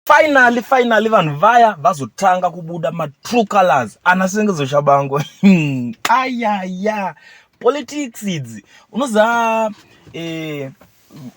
Finally, finally vanhu vaya vazotanga kubuda ma true colors ana Sengezo Shabangu. Hmm, ayaya. Politics idzi. Unoza eh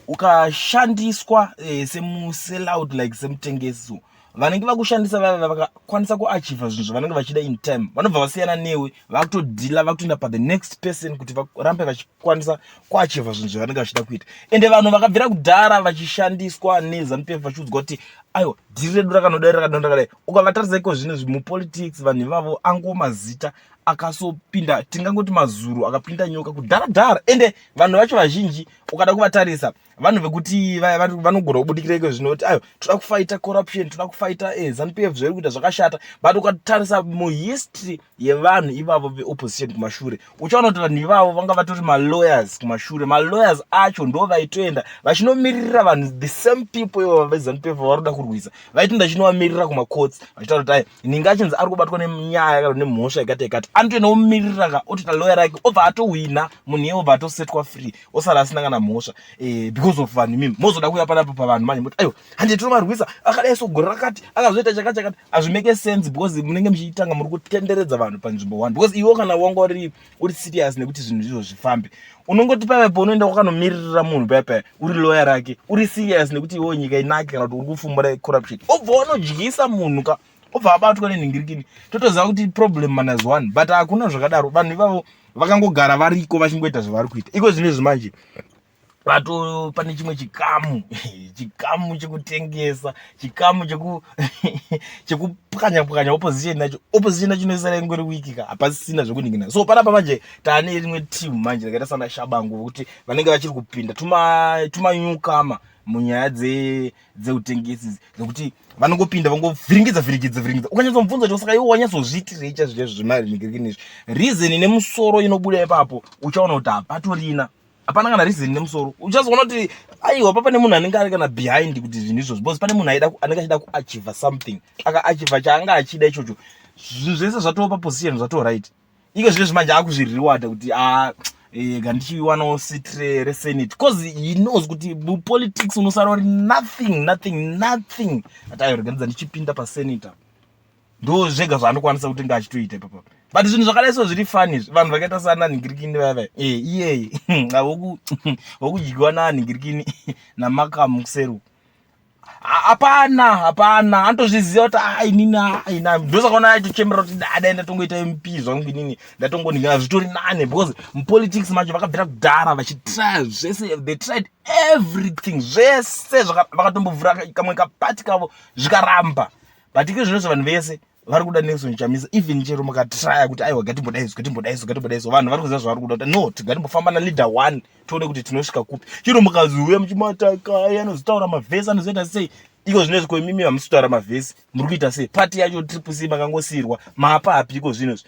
ukashandiswa eh, semu sell out like semutengesi vanenge vakushandisa vaya vakakwanisa kuachiva zvinhu zvavanenge vachida in time vanobva vasiyana newe vakutodhila vakutoenda pathe next person kuti varambe vachikwanisa kuachivha zvinhu zvavanenge vachida kuita ende vanhu vakabvira kudhara vachishandiswa nezanupefu vachiudzwa kuti aiwa dhiri redu rakanodai rakadonda kadai ukavataridza iko zvino mupolitics vanhu ivavo angowo mazita akasopinda tingangoti mazuru akapinda nyoka kudhara dhara ende vanhu vacho vazhinji ukada kuvatarisa vanhu vekuti vanogona kubudikira iko zvino kuti ayo toda kufaita corruption toda kufaita eh, zanupf zvairi kuita zvakashata but ukatarisa muhistory yevanhu ivavo veopposition kumashure uchaona kuti vanhu ivavo vanga vatori malawyers kumashure malawyers acho ndo vaitoenda vachinomiririra vanhu the same people ivo vezanup vari kuda kurwisa vaiti ndachinovamirira kumacourts vachitaura kuti ayo inenge achinzi ari kubatwa nenyaya yakati nemhosva yakati yakati anotoenda omiririra ka otita loya rake obva atohwina munhu iye obva atosetwa free osara asina kana mhosva eh, because of vanhu imimi mozoda kuuya panapo pavanhu manje moti ayo hande tinomarwisa akadai so gore rakati akazoita chakati chakati hazvimake sense because munenge muchitanga muri kutenderedza vanhu panzvimbo one because iwo kana wanga uri uri serious nekuti zvinhu izvo zvifambe unongoti paiva paunoenda kwakanomiririra munhu paya paya uri loya rake uri serious nekuti iwo nyika inake kana kuti uri kufumbura corruption obva wanodyisa munhu ka obva abatwa nenhingirikini totoziva kuti problem manas one but hakuna zvakadaro vanhu ivavo vakangogara variko vachingoita zvavari kuita iko zvino izvi manje vato pane chimwe chikamu chikamu chekutengesa chikamu cheku chekupwanya pwanya opposition nacho opposition nacho inosara ingori wiki ka hapasisina zvekuningina so panapa manje tane rimwe team manje rakaita sana shabangu vokuti vanenge vachiri kupinda tuma tuma nyukama munyaya dze dzeutengesi dzekuti vanongopinda vangovhiringidza vhiringidza vhiringidza ukanyatso mubvunza kuti saka iwo wanyatsozviitirei chazvo chazvo zvemari nigirikini izvi reason nemusoro inobuda ipapo uchaona kuti hapatorina hapana kana reason nemusoro uchazoona kuti aiwa papa nemunhu anenge ari kana behind kuti zvinhu izvozvo because pane munhu aida anenge achida kuachiva something akaachiva chaanga achida ichocho zvinhu zvese zvatova paposition zvatova right iko zvine zvimanje akuzvirewada kuti a ah, eh, ga ndichiwanawo sitre resenate bcause he knows kuti mupolitics unosara uri nothing nothing nothing ati ayorega ndidza ndichipinda pasenator ndo zvega zvaanokwanisa kuti nga achitoita ipapa but zvinhu zvakadai so zviri fani izvi vanhu vakaita sana nhingirikini vaya vaya e iyeye wokudyiwa na nhingirikini namakamu kuseru hapana hapana anotozviziva kuti a inini a ina ndosakaona aitochemera kuti dada ndatongoita mp zvangu inini ndatongonhingana zvitori nane because mupolitics macho vakabvira kudhara vachitrya zvese they tried everything zvese vakatombovhura kamwe kapati kavo zvikaramba but iko zvinonzi vanhu vese vari kuda nelson chamisa even chero mukatraya kuti aiwa gatimbodaiso gatimbodaiso gatimbodaiso vanhu vari kuziva zvavari kuda kuti no tigatimbofamba naleader one tione kuti tinosvika kupi chino mukaziuya muchimatakai anozotaura mavhesi anozoita sei iko zvinezvi ko imimi hamusi kutaura mavhesi muri kuita sei pati yacho triple c makangosiyirwa maapa api iko zvinezvi